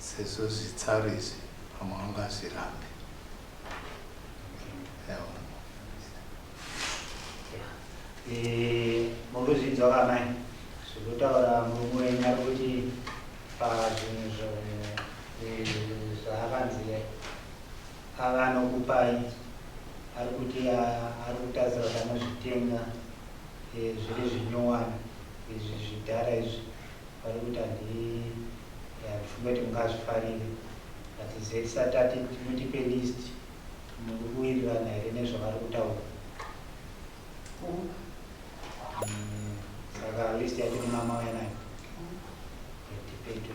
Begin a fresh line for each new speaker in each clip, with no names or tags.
Sezvo zitsari izvi pamwe haungazvirambe. Ewa.
Eh, murikuzvinzwa ka mai zvirikutaura murume wenyu ari kuti pazvinhu zvaakanzi ava anokupai ari kuti ari kutarisira kuti anozvitenga eh, zviri zvinyowani izvi zvidhara izvi Vari kuti handifunge kuti mungazvifarire but ZSA tati mutipe list muri kuwirirana here nezvavari kutaura. Saka list yacho nemamauya nayo yatipeto.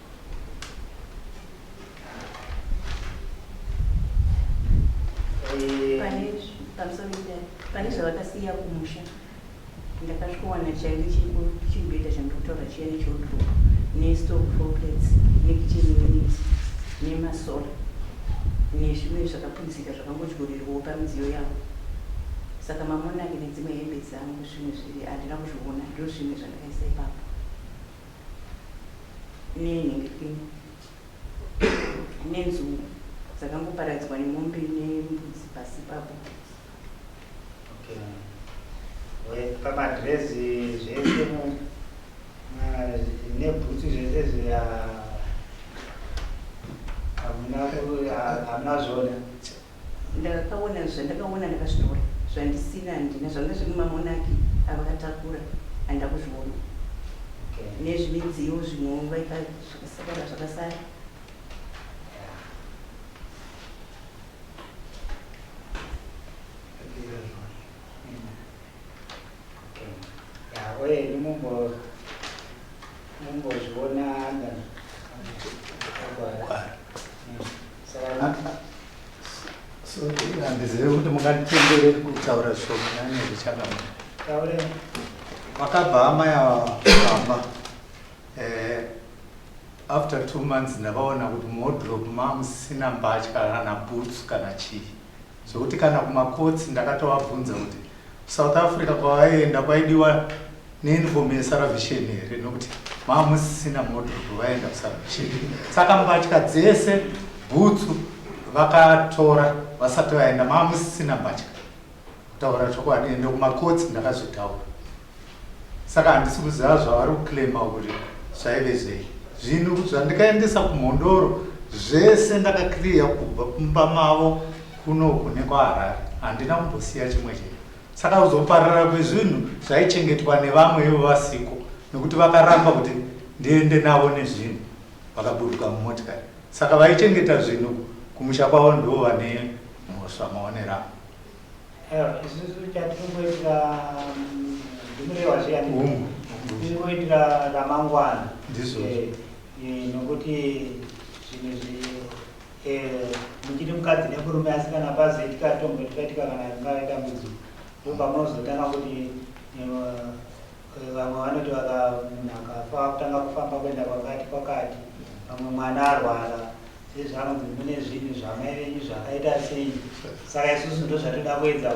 pane zvavakasiya kumusha ndakasvikowana chaive chibhedha chandokutaura chiya nechodro nestock foplets nekitchen unit nemasola nezvimwe zvakapunzika zvakangodyorerwawo pamidziyo yavo saka mamonaki nedzimwe hembe dzangu zvimwe zviri handina kuzviona ndozvimwe zvandakaisa ipapo nenhindi pini nenzou dzakangoparadzwa nemombe nembudzi pasi ipapo
pamadrezi zvese nebhutsu zvese zviya hamuna zvona Ndakaona
zvandakaona ndakazvitora zvandisina handina zvanga zviri mumamonaki avakatakura handina kuzviona nezvimidziyo zvimwewo vaika zvakasakara zvakasara
Wayne mumbo mumbozviona anda
handizive kuti munganditenderei kutaura zvishomanani zvichakama vakabva amai avamba eh, after two months ndavaona kuti modrop mamusina mbatya kana boots kana chii Zvekuti kana kumacourts ndakatovabvunza kuti kuSouth Africa kwavaienda kwaidiwa neuniform yeSalvation here nokuti mava musisina modrogo vaienda kuSalvation. Saka mbatya dzese bhutsu vakatora vasati vaenda mava musisina mbatya kutaura chokwadi ende kumacourts ndakazvitaura. Saka handisi kuziva zvavari kuclaima kuti zvaive zvei. Zvinhu zvandikaendesa kuMhondoro zvese ndakaclear kubva kumba mavo kunoku nekwaHarare. Handina kumbosiya chimwe chinhu. Saka kuzoparara kwezvinhu zvaichengetwa nevamwe ivo vasiko nekuti vakaramba kuti ndiende navo nezvinhu vakaburuka mumotikari. Saka vaichengeta zvinhu kumusha kwavo ndivo vane mhosva maonero angu.
isusu chatiringoitira ndimurewa zviyani tiringoitira ramangwana nokuti zvinhu zvi muchiri mukadzi nemurume asi kana pazoitika tombo tikaitika kana ringave dambudziko ndopamunozotanga kuti vamwe vanoti vaka munhu akafa kutanga kufamba kuenda kwakati kwakati vamwe mwana arwara sezvanzi mune zvinhu zvamai venyu zvakaita sei saka isusu ndozvatoda kuedza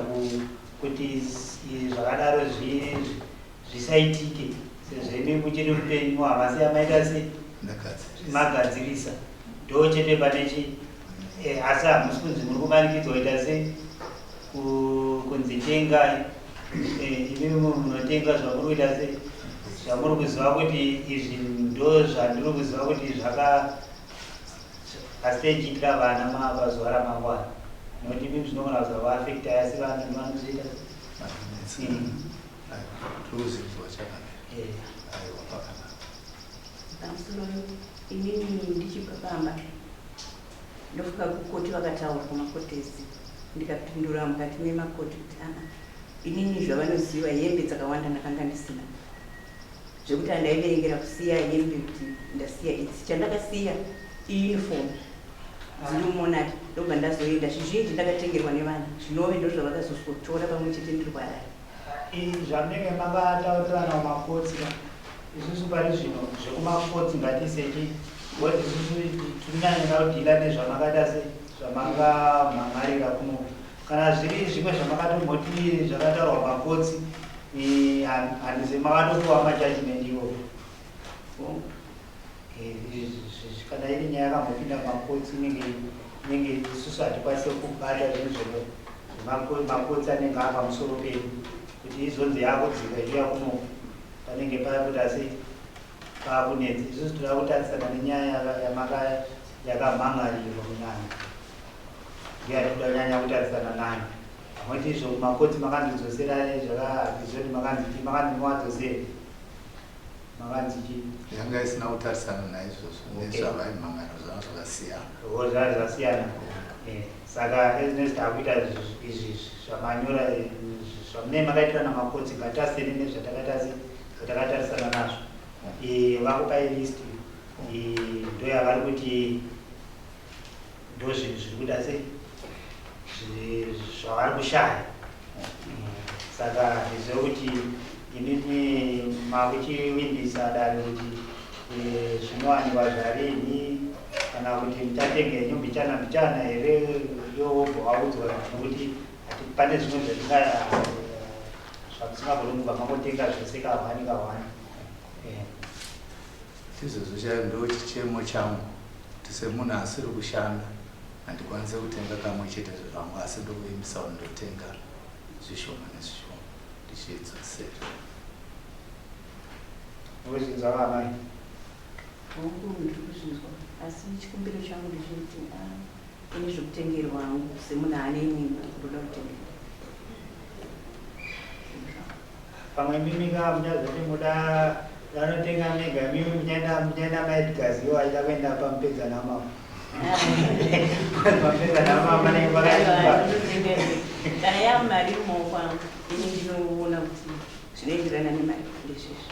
kuti zvakadaro zvisaitike sezvemi muchiri upenyu havasi yamaita sei magadzirisa ndo chete pane chi eh, asi hamusi kunzi muri kumanikidzwa kuita sei kunzi tengai eh, imi munotenga zvamuri kuita sei zvamuri kuziva kuti izvi ndo zvandiri kuziva kuti zvaka Asi dai ichiitira vana mava zuva ramangwana not even zvinogona kuzovaafecta asi vana
ndovanozoita inini ndichibva pamba ndofika kukoti vakataura kumakotesi ndikapindura mukati memakoti kuti aa inini zvavanoziva hembe dzakawanda ndakanga ndisina zvekuti andaiverengera kusiya yembe kuti ndasiya idzi chandakasiya iuniform dzinomonati ndobva ndazoenda zvizhinji ndakatengerwa nevana zvinove ndozvavakazozotora pamwe chete ndiri kuharare izvi
zvamunenge makataurirana kumakotsi isusu pari zvino zvekumakotsi ngatiseki woti isusu tirinyanyira kudhila nezvamakada se zvamangamhamharira kuno Kana zviri zvimwe zvamakatomhoti zvakataurwa pakotsi handize makatopiwa majudgment iwo kana iri nyaya yakambopinda pakotsi inenge inenge isusu hatikwanise kubata zvinhu zvono makotsi anenge ari pamusoro pedu kuti izonzi yakudzika iya kuno panenge paya kuti asi paakunetsa isusu tinoda kutarisana nenyaya yakamhangarirwa kunyanya ndiye ari kuda nyanya kutarisana nani amwete izvo kumakoti makandidzosera zvakaizvoti makanziki makandimowadzosei makanziki yanga isina
kutarisana naizvozvo nezvavaimhangana zvava zvakasiyana o zvava zvakasiyana
eh, saka ezinesi taakuita izvi zvamanyora eh, zvamunei makaitira namakoti ngatariseni nezvatakatarisana nazvo eh, vakupai listi ndoyavari kuti ndozvinhu zviri kuita sei zvavari kushaya saka ndizve kuti inini makuchivimbisa dare kuti eh, zvinowanikwa zvarini kana kuti muchatenge henyu mbichana mbichana here yobva waudzwa nokuti pane zvimwe zvatinga zvamusingagoni kubva makotenga zvese kahwani kahwani
Chizvezvo chaive ndochichemo changu kuti semunhu asiri kushanda handikwanise kutenga kamwe chete zvevangu asi ndokuvimbisa kuti ndotenga zvishoma nezvishoma ndichidzosera.
Wezvinzwa vamai?
Hongu ndiri kuzvinzwa asi chikumbiro changu ndechekuti ine zvekutengerwa hangu semunhu ane imwe imba ndoda kutengerwa.
Pamwe imimi ka muchazoti muda vanotenga mega imimi muchaenda muchaenda maedgars iwo aida kuenda pamupedza namama pamupedza namama panenge pakaipa
kana yamari moko angu ini ndinoona kuti zvinoenderana nemari ndezvezvo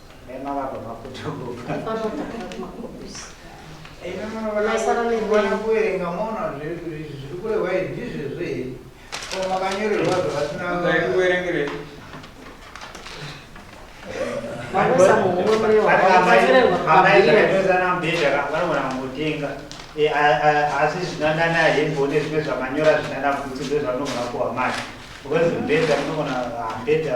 asi zvinanana hembone zvimwe zvamanyora zvinana kuti ndozvamunogona kuwa mari because mbedza munogona mbedza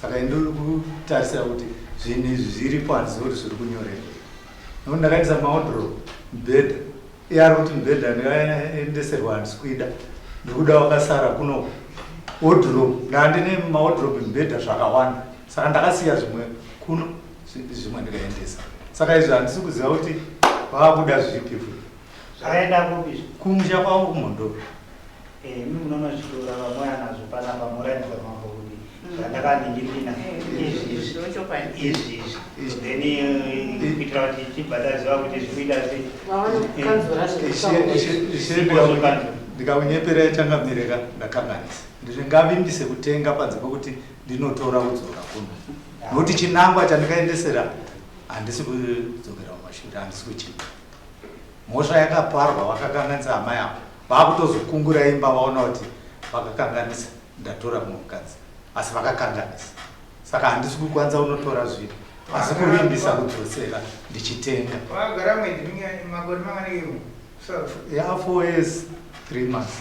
saka ini ndiri kutarisira kuti zvinhu izvi zviri panzi kuti zviri kunyorerwa nokuti ndakaendesa maodro mubhedha iye ari kuti mubhedha ndikaendeserwa handisi kuida ndiri kuda wakasara kuno wodrop ndandine maodrop mubhedha zvakawanda saka ndakasiya zvimwe kuno zvimwe ndikaendesa saka izvi handisi kuziva kuti vaakuda zvipi futi zvakaenda
kupi kumusha kwavo
kumhondoro Imi
munoona zvichitora vamwe anazvo panapa moratidza mambo kuti zvandakaningirina izvi izvi izvi then kuitira kuti tichibva taziva kuti zvikuita sei ndikaunyepera
yachangamireka ndakanganisa ndizvo ngavimbise kutenga panze pokuti ndinotora kudzora kuno nokuti chinangwa chandikaendesera handisi kudzokera kumashure handisi kuchii Mhosva yakaparwa vakakanganisa amai avo vakutozokungura imba vaona kuti vakakanganisa ndatora mumwe mukadzi asi vakakanganisa saka handisi kukwanisa unotora zvinhu asi kuvimbisa kudzosera ndichitenga
yafo
yes three months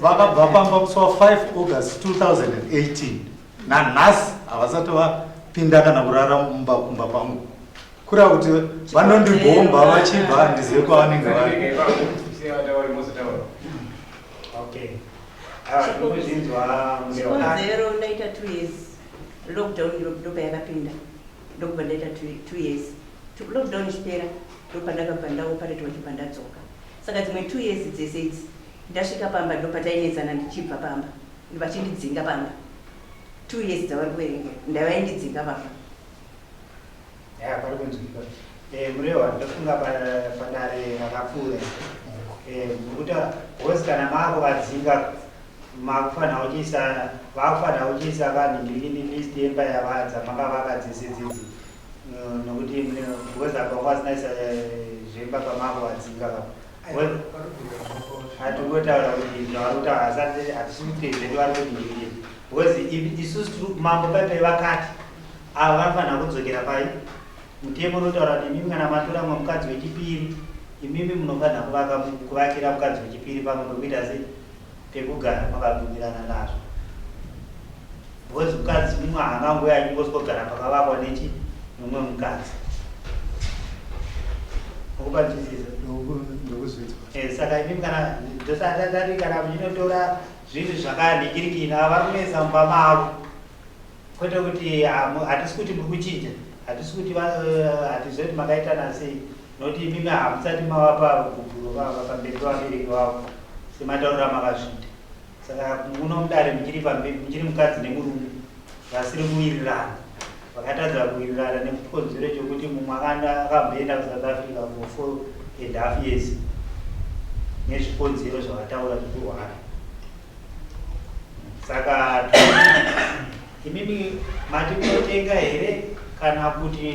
vakabva
pamba musi wa 5 august 2018 nanhasi havasati vapinda kana kurara mumba kumba kwangu kura kuti vanondibhomba vachibva handizive kwavanenge vari
chikonzero ndaita two years lockdown ndopa yakapinda ndokubva ndaita two years lockdown ichipera ndopandakabva ndaoparetwa chibva ndadzoka saka dzimwe two years dzese idzi Ndasvika pamba ndopatainetsana ndichibva pamba vachindidzinga pamba two years dzavari kuverengera ndavaindidzinga pamba. Eya pari
kunzwikwa eh, murehwa ndofunga padare rakapfuura eh, mukutaura hozi kana maakuvadzinga makufanira kuchiisa vakufanira kuchiisa vanhu ndikini list yemba yavadza makavaka dzese dzidzi eh, nokuti hozi apa kwasinaisa eh, zvemba pamaakuvadzinga vako hatongotaura kuti zvavari kutaura hasati hatisi kuti zvedu vari kuti ndii because isusu mambo paipai vakati ava vanofanira kudzokera pai mutemo unotaura kuti imimi kana matora mumwe mukadzi wechipiri imimi munofanira kuvaka kuvakira mukadzi wechipiri pamwe pekuita sei pekugara makabvumirana nazvo because mukadzi mumwe haangangouye achingoswogara pakavakwa nechi mumwe mukadzi ukupanzwisisa eh, saka imimi kana ndosaatari kana muchinotora zvinhu zvakandikirikina vari kunetsa mumba mavo Kwete kuti hatisi kuti muri kuchinja, hatisi kuti hatizve kuti makaitana sei, noti imimi hamusati mavapa gubvuro vava pamberi pavabereki vavo sematauriro amakazviita. Saka muno mudare muchiri pamberi, muchiri mukadzi nemurume vasiri kuwirirana, vakatadza kuwirirana nekukonzero chokuti mumwe akamboenda kuSouth Africa for four and half years nezvikonzero zvavataura zvekurwara saka imimi mati kunotenga here kana kuti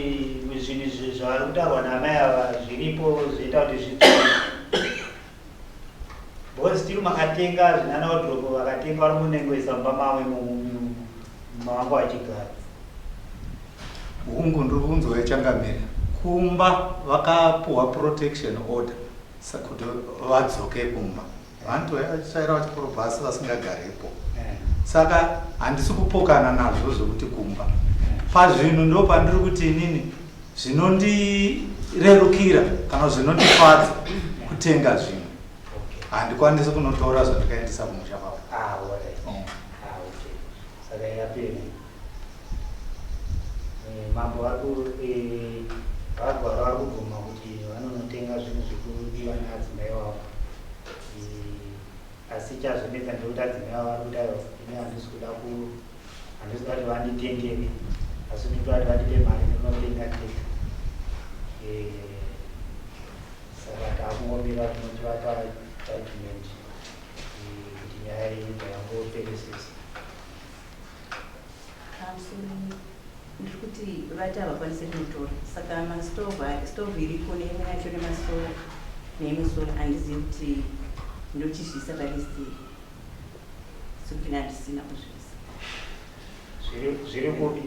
zvinhu zvavari kutaurwa naamai ava zviripo zvoita kuti zvidzii bcause still makatenga zvinana wadropo vakatenga vari munengoisa mumba mavo mavangu achigara hungu
ndiri kunzwa ichangamira kumba vakapuhwa protection order kuti vadzoke kumba Vantu vaiva vachitsvaira vachikorobha asi vasingagarepo. Saka handisi kupokana nazvo zvekuti kumba. Pazvinhu ndo pandiri kuti inini zvinondirerukira kana zvinondifadza kutenga zvinhu. Handikwanisi kunotora zvandikaendesa kumusha kwavo. Ah, all right. Mm. Ah,
okay. Saka yapera. Eh, mambo vari ku eh, vagwara vari kubvuma kuti vanonotenga zvinhu zvekudiwa neadzimai wavo eh, asi chazonetsa ndekuti adzimai wavo vari kudayo ini handisi kuda ku handisi kuda kuti vanditengere asi ndikuda kuti vandipe mari ndinotenga tete eh, saka taakungombira tinoti vapa judgment eh, kuti nyaya iyi ndayangoperesesa
Ndikuti vati havakwanise kunotora saka mastove stove iriko neimwe yacho nemasola neimwe sola handizivi kuti ndochizviisa palist iyi sokina handisina kuzviisa
zviri kupi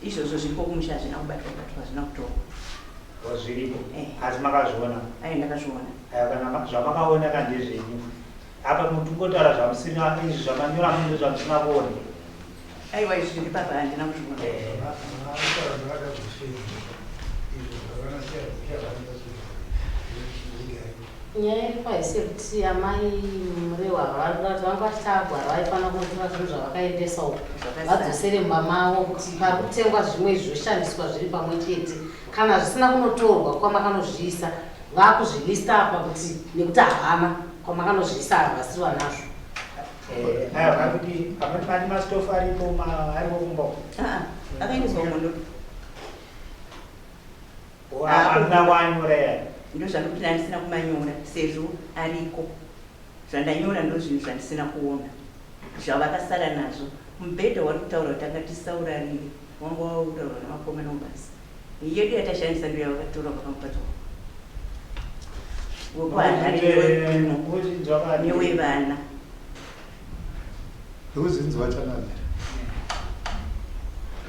izvozvo zviripo
kumusha hazvina kubatwa batwa hazvina kutorwa wazviripo eh.
asi makazviona ayi ndakazviona
kana
zvamakaona kandezvenyu Apa muri kungotaura zvamusina izvi zvamanyora munhu zvamusina kuone. Aiwa izvi zviri papa handina kuzviona.
Nyaya iripo haisi yekuti amai murehwa ava vari kuda kuti vanga vachitagwa ava vaifanira kunotora zvinhu zvavakaendesa uko vadzosere mumba mavo kuti pari kutengwa zvimwe izvi zvoshandiswa zviri pamwe chete kana zvisina kunotorwa kwamakanozviisa vakuzvilista apa kuti nekuti havana Ko makanozviisa ava vasiri vanazvo. Eh,
aya vakuti pamwe pane mastofu aripo ma- aripo kumba uko. Ah,
akaendeswa kumondo Ko
Ah, hamuna wanyora yaya. ndozvandikuti ndandisina
kumanyora sezvo ariko zvandanyora ndozvinhu zvandisina kuona zvavakasara nazvo mubhedha wari kutaura kuti anga tisaurarire wanga waurarwa navakomana ubasa Yedu yatashandisa ndiyo yavakatora kubva pamupato wavo wekuHarare newe- newevana.
ndokuzvinzi vachanamira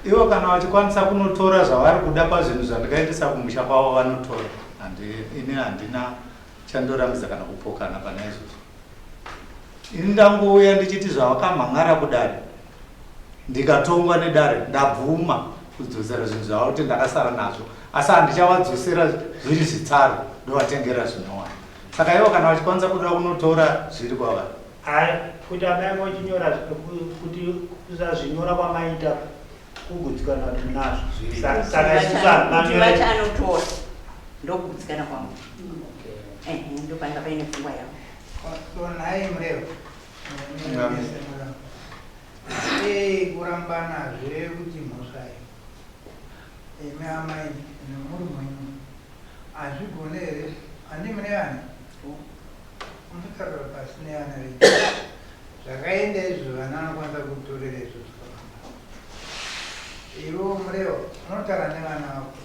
ivo kana vachikwanisa kunotora zvavari kuda pazvinhu zvandikaendesa kumusha kwavo vanotora Handi- ini handina chandorambidza kana kupokana pane izvozvo ini ndangouya ndichiti zvavakamhan'ara kudare ndikatongwa nedare ndabvuma kudzosera zvinhu zvavakuti ndakasara nazvo asi handichavadzosera zviri zvitsaro ndovatengera zvinowana saka ivo kana vachikwanisa kuda kunotora zviri kwava kuti
amai vachinyora kuti kuzazvinyora kwamaita kugutsikana kuti nazvo saka
isusaaati anotora ndokugutsikana kwavo ndopainga paine pfungwa yavo nhai
mureva Hey, kurambana zve kuti mhosva iyo imi amai nemuri mwenyu hazvigone here handi mune vana munotaura pasi nevana venyu zvakaenda izvo vana vanokwanisa kutorera izvo zvakanaa ivo mureva unotaura nevana vako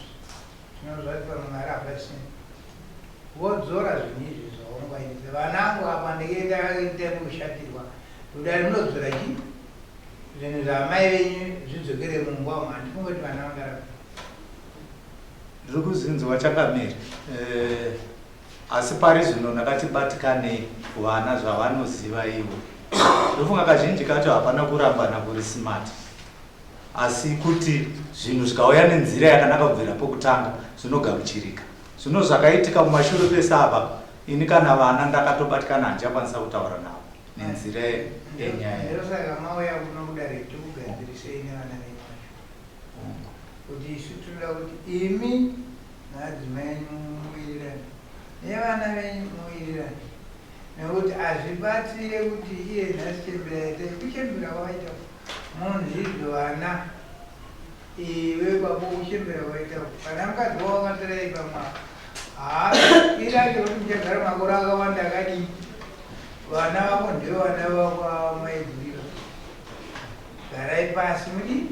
Zvino zvati pamwe Mwari havadi seni. Wodzora zvinhu izvi zvaungwaidze vanangu apa ndikenda ita kushatirwa. Kudari munodzora chii? Zvinhu zvaamai venyu zvidzokere mumba umu handifungoti vana vangarapa.
Ndiri kuzinzwa chakamiri. Eh, asi pari zvino ndakati batikanei kuvana zvavanoziva ivo. Ndofunga kazhinji kacho hapana kurambana kuri smart. Asi kuti zvinhu zvikauya nenzira yakanaka kubvira pokutanga zvinogamuchirika. Zvino zvakaitika kumashure kwese apa, ini kana vana ndakatobatikana handichakwanisa kutaura navo nenzira yenyaya. Ndosaka mauya
kuno kudare tikugadzirisei nevana venyu vacho. Kuti isu tinoda kuti imi naadzimai enyu muwirirane nevana venyu muwirirane nekuti hazvibatsire kuti iye nhasi chembera yaita kuchembera kwawaita Munzvimbo vana iwe baba uchembera waita kana mukadzi wavo akatara ipa mwana haa ira chekuti muchagara makore akawanda akadii vana vako ndevana vakwamaigurira garai pasi mudii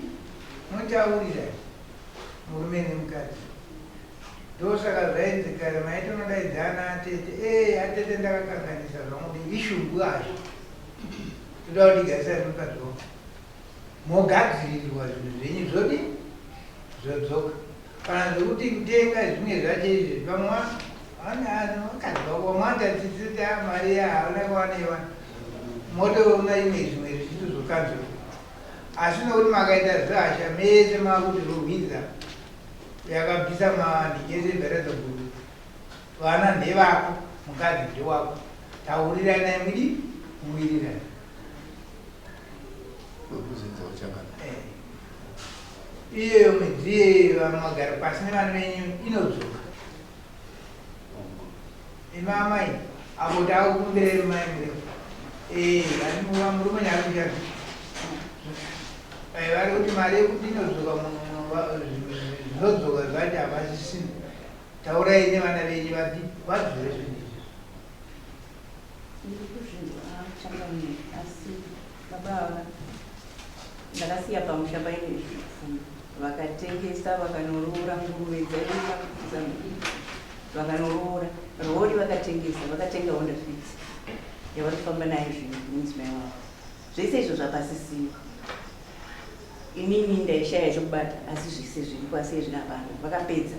mutaurira murume nemukadzi ndosaka zvainzi kare maiti unodaidzana atete ee atete ndakakanganisa zvangu ishungu azvo Toda kuti garisai zvinhu padzoka. Mogadzirirwa zvinhu zvenyu zvodi zvodzoka. Kana zvekuti kutenga zvimwe zvacho izvi vamwe vakadzoka vamwe vatatisita mari yahauna kuwaneiwa motoona imwe zvimwe zvichitu zvokanzwa. Asi nokuti makaita zvasha mese makuti rohwidza yakabvisa mandi yese bheredzo guru. Vana ndevako mukadzi ndewako tauriranai mudii muwirirana. Wekuzidza uchakana. Eh. Iyeyo mwedzi iyeyo vamwe magara pasi nevana venyu inodzoka. Imi amai apo takukumbirei mai mureu. Eh, anova murume nyakuchana. Eh, vari kuti mari yekuti inodzoka munhu zvinodzoka zvacho havasisina. Taurai nevana venyu vapi vazvire zvinhu
izvi. Ndiri kuzvinhu achangamire asi baba ava ndakasiya pamusha paine zvipfuyo vakatengesa vakanoroora nguruve dzaiva kuzambia vakanoroora rori vakatengesa vakatenga honda fit yavari kufamba nayo zvinhu nemudzimai wavo zvese izvo zvapasisiwa Inini ndaishaya chokubata asi zvese zviri pasi izvi hapana. Vakapedza.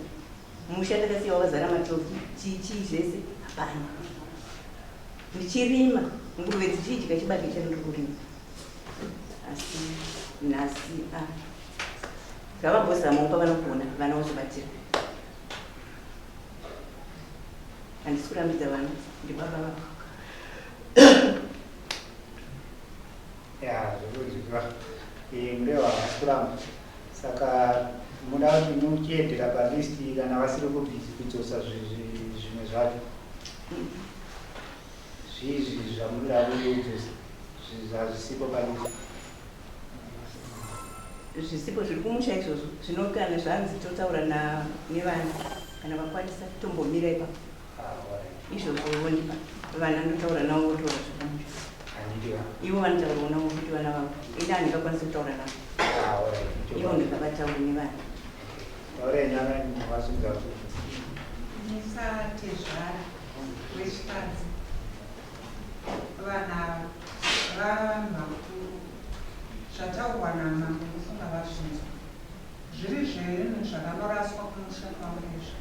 Musha ndakasiya wakazara matoki, chii chii zvese hapana. Ndichirima nguruve dzichidya chibage chandiri kurima. Asi nhasi a ah, ngavambozamawo pavanogona vana vozobatira. Handisi kurambidza vana ndibaba vako.
Yeah, zvekunzwikwa. Eh, mureva havasi kuramba. Saka muda kuti muchiedera palist kana vasiri kubhizi kudzosa zvi- zvi- zvimwe zvacho. Zvizvi zvamunoda kudzosa zvi- hazvisipo palist.
zvisipo zviri kumusha izvozvo zvinokana zvanzi totaura na- nevana kana vakwanisa tombomira ipapo izvozvo vondipa vana ndotaura navo votaura zvakanaka ivo vanotaurawo navo kuti vana vavo ini handingakwanisi kutaura navo ivo ndakabatauri nevana
musatezvara wechikadzi vana vamakuru zvataurwa namambo mufunga vazvinzwa Zviri zvinhu zvakandoraswa kumusha kwangu izvo.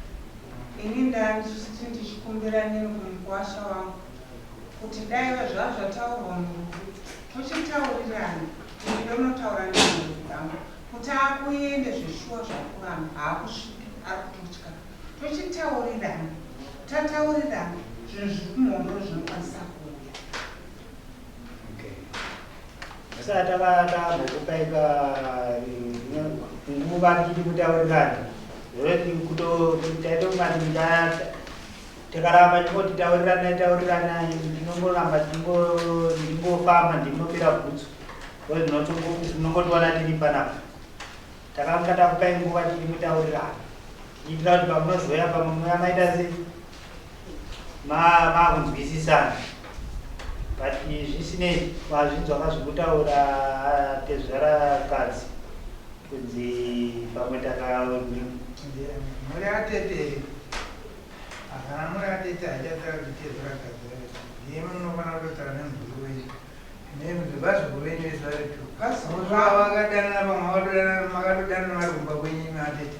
Ini ndanditi ndichikumbira neni kumukuwasha wangu kuti daive zvazvo zvataurwa murufu tochitaurirana ini ndonotaura nenhengo dzangu kuti akuende zveshuwa zvakuvanhu haakusviki ari kutotya tochitaurirana tataurirana zvinhu zviri kumhondo zvinokwanisa kuuya.
vasati vakambokupaika nguva tichiti kutaurirana zvekutotaitomatindaa takaramba tingoti tauriranai tauriranai ndinongoramba ndingofamba ndinopera bhutsu ndozvinotinongotiwana tiri panapa Takanga takupai nguva tiri mutaurirano kuitira kuti pamunozouya pamwe muya maita se makunzwisisana but zvisinei wazvinzwa ka zvekutaura tezvara kadzi kunzi pamwe takamhuri
atete hapana mhuri atete haichataura kuti tezvara kadzi ndiye munofanira kutotaura nemhuri wenyu Nevazukuru venyu vese vari two plus muzvaa vakadanana vamwe vakadodanana makatodanana vari kumba kwenyu imi atete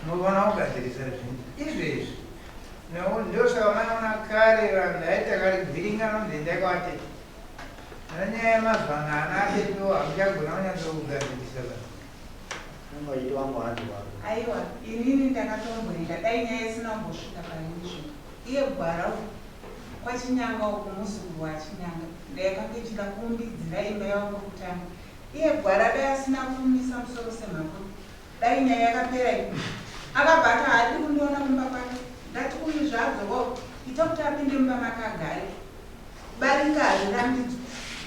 munoona kugadzirisa zvinhu izvezvi ndosaka maiona kare vanhu ndaita kari kuvhiringana kunzi endai kwaatete ana nyaya yemazuva ano ana atetewo hamuchagona kunyatsa kugadzirisa vanhu aiwa inini
ndakatomboenda dai nyaya isina kumbosvika painizvo Iye gwara uko kwaChinyanga uko muzukuru waChinyanga ndayakanga ichida kuumbidzira imba yavo kwekutanga iye gwara dai asina kuumisa musoro semhakure dai nyaya yakapera ipapo akabva ati haadi kundiona kumba kwake ndati uyu zvaadzorwa uyu ita kuti apinde mumba make agare Barika
hazvirambidzwe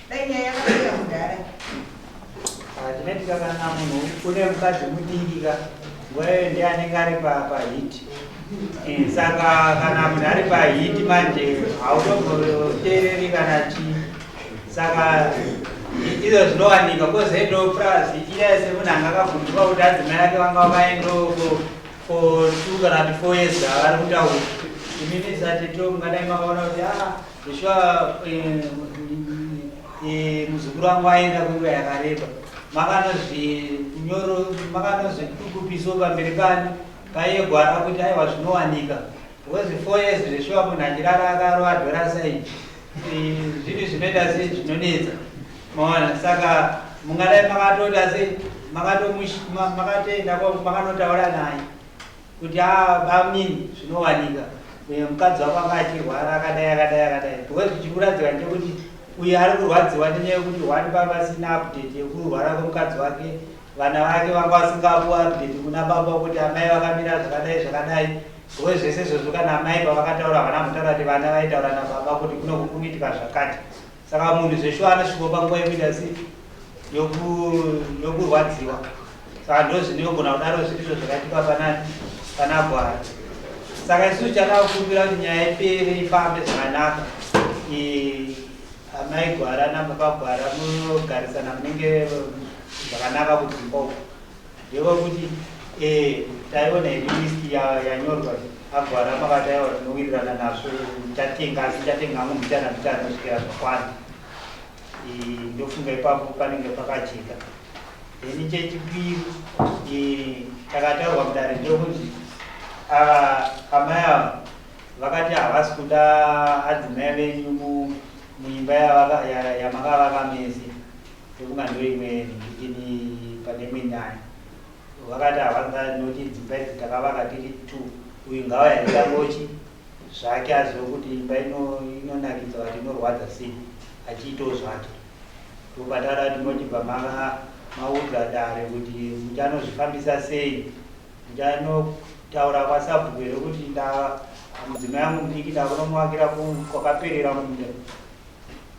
dai nyaya yakapera mudhara. Ah, Tinoitika kana munhu une mukadzi mudiki ka nguva iyoyo ndiye anenge ari pa- pahiti Eh, saka kana munhu ari pahiti manje hautomboteereri kana chii saka i- izvo zvinowanika kozoitawo purazi iya yese munhu anga akabvunzwa kuti adzimai ake vanga vakaendoko for two kana kuti four years avari kutaura imimi sateto mungadai makaona kuti a ah, zveshuwa eh, eh, muzukuru wangu aenda kwenguva yakareba makanozvinyoro makanozvitukupiso pamberi pani paiye gwara kuti aiwa zvinowanika because four years zveshuwa munhu achirara akaroadhora saii zvinhu zvinoita sei zvinonetsa maona saka mungadai makatoita sei makatoenda makanotaura naye kuti abamnini ah, zvinowanika mukadzi wako anga achirwara akadai akadai akadai because zvichikuradzika ndechekuti uyo ari kurwadziwa nenyaya yekuti wani pavasina update yekurwara kwemukadzi wake vana vake vanga vasingapuwa update kuna baba kuti amai vakamira zvakadai zvakadai Sure zvese izvozvo kana amai pavakataura havana kutaura kuti vana vaitaura nababa kuti kuno kukumitika zvakati saka munhu zveshuwa anosviko panguva yekuita si yokurwadziwa saka ndo zvinogona kudaro zvirizvo zvakaitika pana pana gwara saka isusu chada kukumbira kuti nyaya ipere ifambe zvakanaka amai gwara nababa gwara munogarisana munenge zvakanaka kudzimba uku Ndeva kuti eh taiona hedu list yanyorwa ago aramba vataiwa tinowirirana nazvo tatenga asi tatenga hangu mita namita rinosvikira zvakwana ndofunga ipapo panenge pakajeka then chechipiri takataurwa mudare ndokunzi amai ava vakati havasi kuda adzimai venyu muimba yamakavaka mese Pfuma ndoimwe ini pane imwe nyaya vakati havanga noti dzimba idzi takavaka tiri two uyu ngavayaita ngochi zvake azive kuti imba inonakidza vati inorwadza sei achiitawo zvake ndopataura kuti motibva maudza dare kuti muchanozvifambisa sei muchanotaura kwasabhuku here kuti mudzimai yangu mudiki ndakunomuvakira kwakaperera munda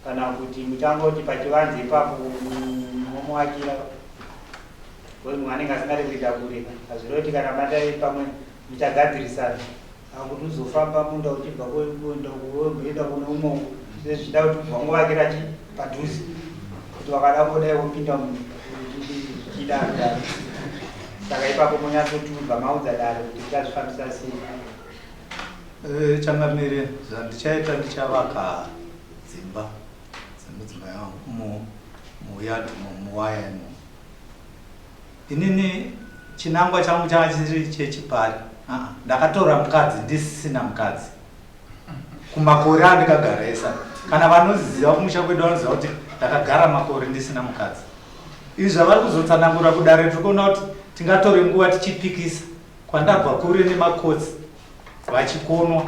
Kana kuti muchangoti pachivanze ipapo momuakira because munhu anenge asingade kuita kure hazvire kuti kana madai pamwe muchagadzirisana akuti uzofamba munda uchibva kuenda kuenda kune umwe uku zvichida kuti kubva nguvakira chi padhuze kuti vakada kudai wopinda munhu zvichida kudaro saka ipapo monyatsotubva maudza dare kuti tichazvifambisa sei eh, changamire
zvandichaita ndichavaka Dzimba dzemudzimai wangu umo muyard umo muwaya imo. Inini chinangwa changu changa chisiri chechipari. Aa ndakatora mukadzi ndisisina mukadzi. Kumakore andikagara esa. Kana vanoziva kumusha kwedu vanoziva kuti ndakagara makore ndisina mukadzi. Izvi zvavari kuzotsanangura kudare tiri kuona kuti tingatore nguva tichipikisa kwandabva kure nemakotsi. vachikonwa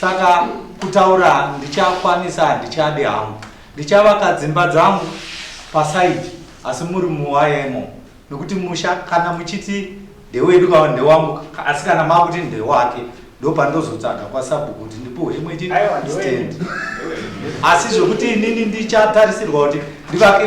saka kutaura ndichakwanisa handichadi hangu ndichavaka dzimba dzangu pasaidi asi muri muwayemo nokuti musha kana muchiti ndewedu ka ndewangu ka- asi kana makuti ndewake ndopandozotsvaga kwasabu kuti ndipuhwe imwe chii stand asi zvekuti inini ndichatarisirwa kuti ndivake